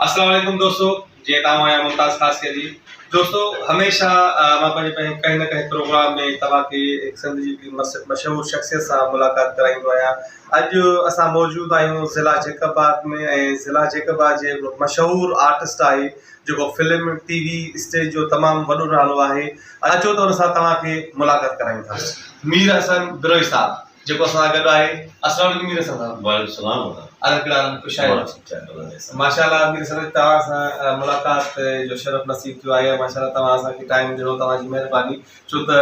السلام عليڪم دوستو جيئن توهان آهيان ممتاز خاص کي جي دوستو هميشه مان پنهنجي پنهنجي ڪنهن نه ڪنهن پروگرام ۾ توهان کي هڪ سنڌ جي هڪڙي مشهور شخصيت سان ملاقات ڪرائيندو آهيان اڄ اسان موجود آهيون ضلع جيڪب آباد ۾ ۽ ضلع جيڪب آباد جي هڪڙو مشهور آرٽسٽ آهي جيڪو فلم ٽي وي اسٽيج جو تمام وڏو نالو آهي اچو ته ان سان توهان کي ملاقات ڪرايون ٿا مير حسن بروهي صاحب جيڪو اسان سان گڏ آهي السلام عليڪم مير حسن صاحب وعليڪم السلام ادب ڪهڙا حال آهن خوش آهيو ماشاءالله مير حسن صاحب توهان سان ملاقات جو شرف نصيب ٿيو آهي ماشاءالله توهان اسان کي ٽائيم ڏنو توهان جي مهرباني ڇو ته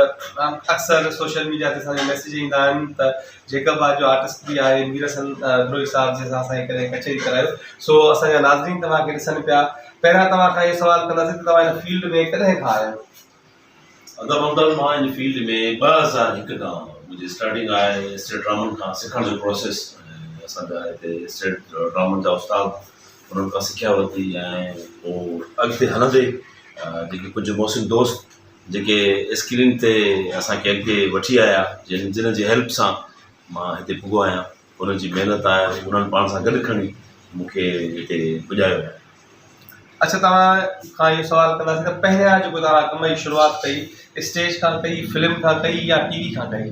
اڪثر سوشل ميڊيا تي اسان جا ميسيج ايندا آهن ته جيڪب آباد جو آرٽسٽ به آهي مير حسن بروهي صاحب جنهن سان اسان کي ڪڏهن ڪچهري ڪرايو سو اسان جا ناظرين توهان کي ڏسن پيا پهريان توهان کان اهو سوال ڪنداسين ته توهان هن فيلڊ ۾ ڪڏهن کان آهيو ادب اندر مان ان فيلڊ ۾ ٻه هزار هڪ کان منهنجي اسٽارٽنگ آهي اسٽيٽ ڊرامن کان سکڻ جو پروسيس اسان جا هتي اسٽيٽ ڊرامن جا استاد انهن کان سکيا ورتي ۽ پوء اڳتي هلندي جيڪي ڪجهه محسن دوست جيڪي اسڪرين تي اسانکي اڳتي وٺي آيا جن جنهن جي هيلپ سان مان هتي پڳو آهيان انهن جي محنت آهي انهن پاڻ سان گڏ کڻي مون کي هتي پڄايو آهي. اڇا توهان کان اهو سوال ڪنداسين ته پهريان جيڪو توهان ڪم جي شروعات ڪئي اسٽيج کان ڪئي فلم کان ڪئي يا ٽي وي کان ڪئي؟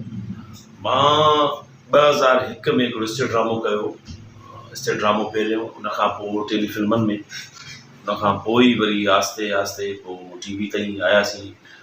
مان ٻه هزار هڪ ۾ هڪڙو اسٽيج ڊرامو ڪيو اسٽيج ڊرامو پهريون ان کان پوء ٽيلي فلمن ۾ ان کان پوء وري آهستي آهستي پوء ٽي وي تائين آياسين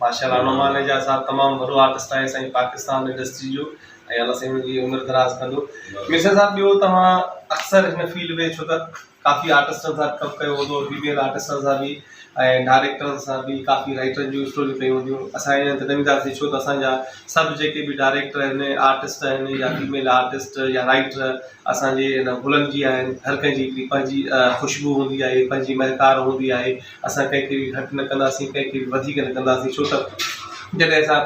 ماشاء الله انعام مانيجا صاحب تمام وڏو آرٽسٽ آهي سائين پاڪستان انڊسٽري جو ۽ الله سائين جي عمر دراز ڪندو ميرزا صاحب ٻيو توهان اڪثر هن فيلڊ ۾ ڇو ته ڪافي آرٽسٽن سان ڪم ڪيو هوندو فيميل آرٽسٽن سان به ۽ ڊائريڪٽرن سان به ڪافي رائٽرن جون اسٽوريون ڪيون هونديون اسان ائين ته نه وينداسين ڇو ته اسانجا سڀ جيڪي به ڊائريڪٽر آهن آرٽسٽ آهن يا فيميل آرٽسٽ يا رائٽر اسانجي هن گلن جي آهن هر ڪنهن جي هڪڙي پنهنجي خوشبو هوندي آهي پنهنجي مهڪار هوندي آهي اسان ڪنهن کي به گهٽ نه ڪنداسين ڪنهن کي به وڌيڪ نه ڪنداسين ڇو ته جڏهن اسان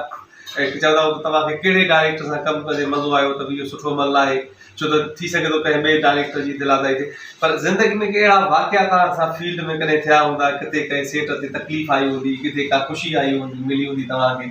چوندا آهيون ته توهان کي ڪهڙي ڊائريڪٽر سان ڪم ڪندي مزو آيو ته اهو سٺو عمل نه آهي ڇو ته ٿي سگهي ٿو ڪنهن ٻئي ڊائريڪٽر جي دل آزائي ٿئي پر زندگي ۾ ڪي اهڙا واقعا توهان سان فيلڊ ۾ ڪڏهن ٿيا هوندا ڪٿي ڪنهن سيٽ تي تڪليف آئي هوندي ڪٿي ڪا خوشي آئي هوندي ملي هوندي توهان کي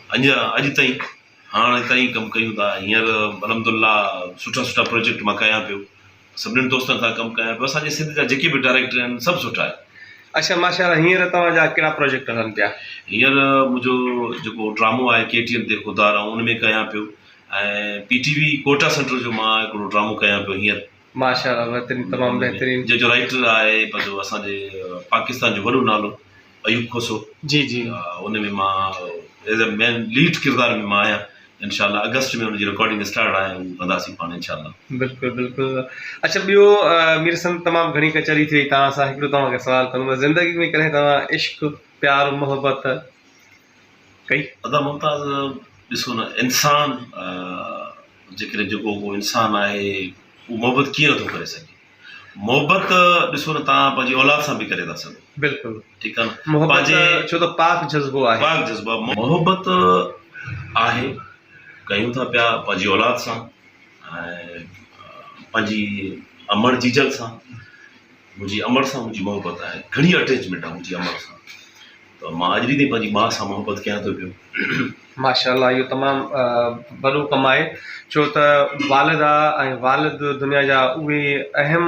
اڃا اڄ تائين هاڻ اتان ئي ڪم ڪيون ٿا هينئر الحمدالله سٺا سٺا پروجيڪٽ مان ڪيان پيو سڀني دوستن سان ڪم ڪيان پيو اسان جي سنڌ جا جيڪي به ڊائريڪٽر آهن سڀ سٺا آهن. اڇا ماشاءالله هينئر توهان جا ڪهڙا پروجيڪٽ هلن پيا. هينئر منهنجو جيڪو ڊرامو آهي ڪي ٽي ايم تي خوددار آئون ان ۾ ڪيان پيو ۽ P T V Quetta centre جو مان هڪڙو ڊرامو ڪيان پيو هينئر. ماشاء الله بهترين تمام بهترين. جنهن جو رائيٽر آهي پنهنجو اسان جي پاڪستان جو وڏو نالو ايوب کوسو جي جي ان ۾ مان ايز اي مين ليڊ ڪردار ۾ مان آهيان انشاء الله اگسٽ ۾ ان جي رڪارڊنگ اسٽارٽ آهي هو ڪنداسين پاڻ انشاء الله بلڪل بلڪل اچھا ٻيو مير سند تمام گھڻي ڪچهري ٿي وئي توهان سان هڪڙو توهان کي سوال ڪندو زندگي ۾ ڪڏهن توهان عشق پيار محبت ڪئي. ادا ممتاز ڏسو نه انسان جيڪڏهن جيڪو ڪو انسان آهي اهو محبت ڪيئن نٿو ڪري سگهي محبت ڏسو نه تان پنهنجي اولاد سان به ڪري ٿا سگهو بلڪل ٺيڪ آهي نه محبت پنهنجي ڇو ته پاڪ جذبو آهي پاڪ جذبا محبت آهي ڪيون ٿا پيا پنهنجي اولاد سان ۽ پنهنجي امڙ جيجل سان منهنجي امڙ سان منهنجي محبت آهي گهڻي اٽيچمينٽ آهي منهنجي امڙ سان ته مان اڄ به تائين پنهنجي ماء سان محبت ڪيان ٿو پيو. ماشاءالله اهو تمام وڏو ڪم آهي ڇو ته والده ۽ والد دنيا جا اهي اهم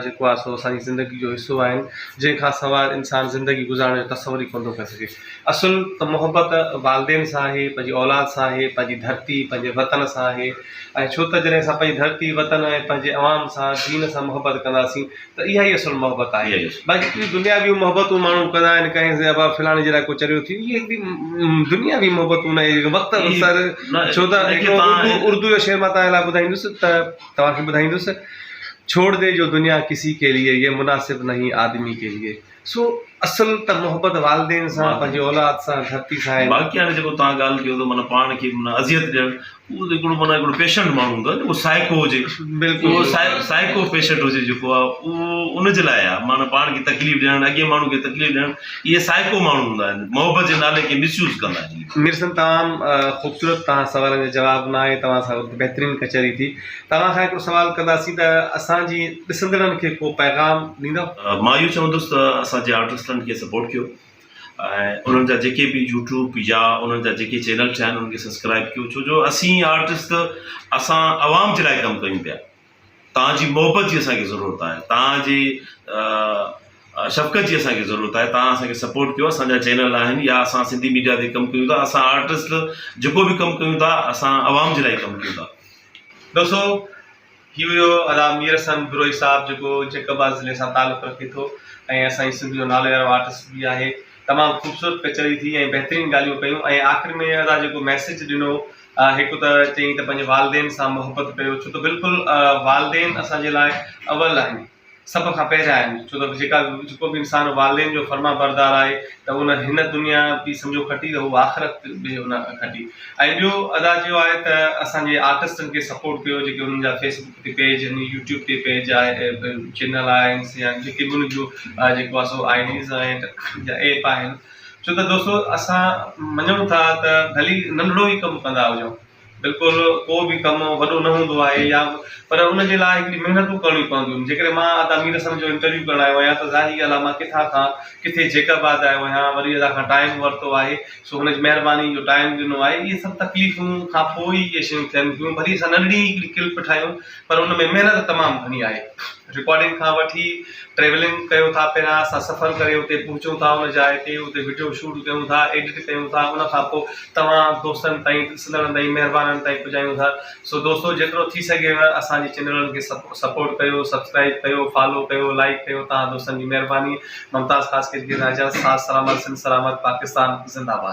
جيڪو آهي سو اسان جي زندگي جو حصو آهن جنهن کان سواء انسان زندگي گذارڻ جو تصور ئي ڪونه ٿو ڪري سگهي اصل ته محبت والدين سان آهي، پنهنجي اولاد سان آهي، پنهنجي ڌرتي، پنهنجي وطن سان آهي ۽ ڇو ته جڏهن اسان پنهنجي ڌرتي، وطن ۽ پنهنجي عوام سان، دين سان محبت ڪنداسين ته اها ئي اصل محبت آهي. اها ئي اصل. باقي ڪي دنياويون محبتون ماڻهو ڪندا آهن، ڪنهن سان ابا فلاڻي جي لاء ڪو چريو ٿي ويو، اهي به دنياوي محبتون نه آهن، وقت اي سر نه آهن. ڇو ته ان کي هڪڙو تان اردو، اردو جو شعر مان توهان لاء ٻڌائيندس ته توهان کي ٻڌائيندس، ڇوڙ دي جو دنيا ڪسي ڪي ليي، يي مناسب نهين آدمي ڪي ليي. سو اصل ته محبت والدين سان پنهنجي اولاد سان ڌرتي سان آهي. باقي هاڻي جيڪو توهان ڳالهه ڪيو ته معنيٰ پاڻ کي معنيٰ اذيت ڏيڻ اهو ته هڪڙو معنيٰ هڪڙو پيشنٽ ماڻهو هوندو آهي جيڪو سائيڪو هجي بلڪل اهو سائي سائيڪو پيشنٽ هجي جيڪو آهي اهو ان جي لاء آهي معنيٰ پاڻ کي تڪليف ڏيڻ اڳئين ماڻهو کي تڪليف ڏيڻ اهي سائيڪو ماڻهو هوندا آهن محبت جي نالي کي مس يوز ڪندا آهن ميرسن تمام خوبصورت توهان سوالن جا جواب ناهي توهان سان بهترين ڪچهري ٿي. توهان کان هڪڙو سوال ڪنداسين ته اسان جي ڏسندڙن کي ڪو پيغام ڏيندؤ؟ مان اهو چوندس ته اسان جي آرٽسٽن کي سپورٽ ڪيو ۽ انهن جا جيڪي به يوٽيوب يا انهن جا جيڪي چينل ٺهيا آهن انهن کي سبسڪرائيب ڪيو ڇو جو اسين آرٽسٽ اسان عوام جي لاء ڪم ڪيون پيا توهان جي محبت جي اسان کي ضرورت آهي توهان جي شفقت جي اسان کي ضرورت آهي توهان اسان کي سپورٽ ڪيو اسان جا چينل آهن يا اسان سنڌي ميڊيا تي ڪم ڪيون ٿا اسان آرٽسٽ جيڪو به ڪم ڪيون ٿا اسان عوام جي لاء ڪم ڪيون ٿا. دوستو هي هيو ادا مير حسن بروهي صاحب جيڪو جيڪب آباد ضلعي سان تعلق رکي ٿو ۽ اسان جي سنڌ جو نالي وارو آرٽسٽ به آهي تمام خوبصورت ڪچهري ٿي ۽ بهترين ڳالهيون ڪيون ۽ آخر ۾ ادا جيڪو ميسيج ڏنو هڪ ته چيائين ته پنهنجي والدين سان محبت ڪيو ڇو ته بلڪل والدين اسان جي لاء اول آهن. سڀ کان پهريان آهن، ڇو ته جيڪا به جيڪو به انسان والدين جو فرمانبردار آهي ته ان هن دنيا به سمجهو کٽي ته هو آخرت به ان کٽي ۽ ٻيو ادا چيو آهي ته اسان جي آرٽسٽن کي سپورٽ ڪيو جيڪي انهن جا فيس بڪ تي پيج آهن يوٽيوب تي پيج آهي چينل آهن يا جيڪي به انهن جو جيڪو آهي سو آئي ڊيز آهن يا ايپ آهن ڇو ته دوستو اسان مڃون ٿا ته ڀلي ننڍڙو ئي ڪم ڪندا هجون بلڪل ڪو به ڪم وڏو نه هوندو آهي يا پر ان جي لاء هڪڙي محنتون ڪرڻيون پونديون جيڪڏهن مان ادا مير حسن جو انٽرويو ڪرڻ آيو آهيان ته ظاهري ڳالهه آهي مان ڪٿان کان ڪٿي جيڪب آد آيو آهيان وري ادا کان ٽائيم ورتو آهي سو هن جي مهرباني جو ٽائيم ڏنو آهي اهي سڀ تڪليفون کان پوء ئي اهي شيون ٿين ٿيون ڀلي اسان ننڍڙي هڪڙي ڪلپ ٺاهيون پر ان ۾ محنت تمام گهڻي آهي. رڪارڊنگ کان وٺي ٽريولنگ ڪيو ٿا پهريان اسان سفر ڪري اتي پهچون ٿا ان جاء تي اتي وڊيو شوٽ ڪيون ٿا ايڊٽ ڪيون ٿا ان کان پوء توهان دوستن تائين ڏسندڙن تائين مهربانن تائين پڄايون ٿا سو دوستو جيترو ٿي سگهي ها اسان جي چينلن کي سپورٽ ڪيو سبسڪرائب ڪيو فالو ڪيو لائيڪ ڪيو توهان دوستن جي مهرباني ممتاز خاصخيل کي اجازت ساٿ سلامت سنڌ سلامت پاڪستان زنده باد.